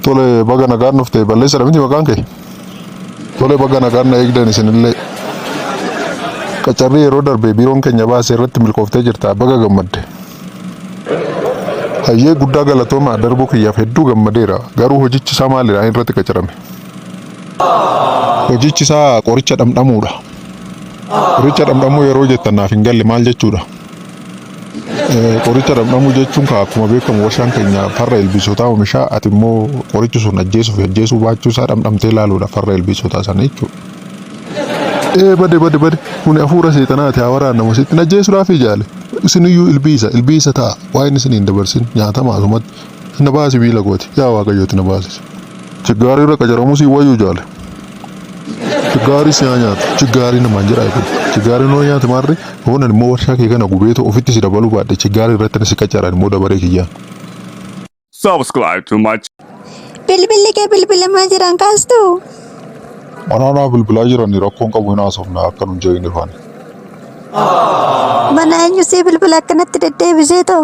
Tole baga nagaan dhufte balleessadha miti maqaan kee. Tole baga nagaan na eegdan isinillee. Qacarrii yeroo darbe biiroon keenya baase irratti milkooftee jirta baga gammadde. Hayyee guddaa galatooma darbuu kiyyaaf hedduu gammadeera garuu hojichi isaa maalidha ani irratti qacarame. Hojichi isaa qoricha dhamdhamuudha. Qoricha dhamdhamuu yeroo jettan naaf hin galle maal jechuudha? Qoricha dhamdhamuu jechuun kaa akkuma beekamu warshaan keenya farra ilbiisotaa oomisha ati immoo qorichi sun ajjeesuu fi ajjeesuu baachuu isaa dhamdhamtee ilaaluudha farra ilbiisotaa sana jechuudha. Ee bade bade bade kuni hafuura seexanaati haa waraannamu sitti hin ajjeesuudhaaf ijaale isiniyyuu ilbiisa ilbiisa ta'a waa inni isin hin dabarsin nyaatama asumatti na baasi miila kooti yaa waaqayyooti na baasisa. Chiggaari irra qacaramu si wayyu jaale. Chiggaari si haa nyaatu. Chiggaari namaan jedhaa kun. Chiggaari noo nyaate maarre hoonan immoo warshaa kee kana gubeetu ofitti si dabaluu baadhe chiggaari irratti si qacaran immoo dabaree kiyyaan. Subscribe to my Bilbilli kee bilbilamaa jiran kaastu. Anaanaa bilbilaa jirani rakkoon qabu hin haasofna akka nun jeegne faani. Mana eenyu si bilbila akkanatti deddeebisee too.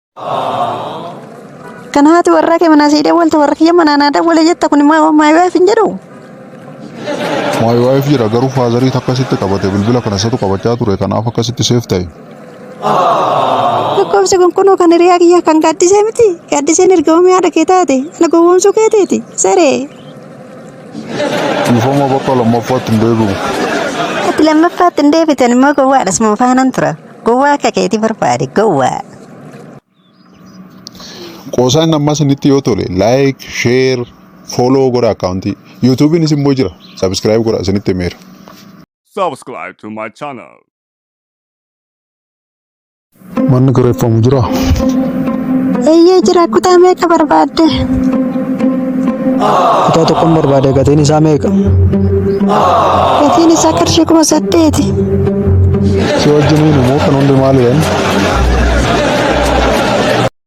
Kan haati warraa kee manaa sii dawwalte warra kiyya manaa naa dawwale jetta kun immoo my wife hin jedhu. My wife jedha garuu faazarii akkasitti qabate bilbila kana isatu qabachaa ture kanaaf akkasitti seef ta'e. Lakkoofsi kun kunoo kan hiriyaa kiyya kan gaaddisee miti. Gaaddiseen ergamamee haadha kee taate. Ana gowwoomsuu keeteeti. Saree. Dhiifama bakka lammaffaatti hin deebi'u. Ati lammaffaatti hin deebitan immoo gowwaadhas moo faanan tura. Gowwaa akka keeti barbaade gowwaa. Qoosaan ammaa sinitti yoo tole like, share, follow godha akkaawuntii. Yuutuubiinis immoo jira. Subscribe godha isinitti himeera. subscribe to my channel. Manni kireeffamu jira. Eeyyee jira kutaa meeqa barbaadde? Kutaa tokkon barbaade gatiin isaa meeqa? Gatiin isaa qarshii kuma saddeeti. Si wajjiniin immoo kan hundi maali jedhan?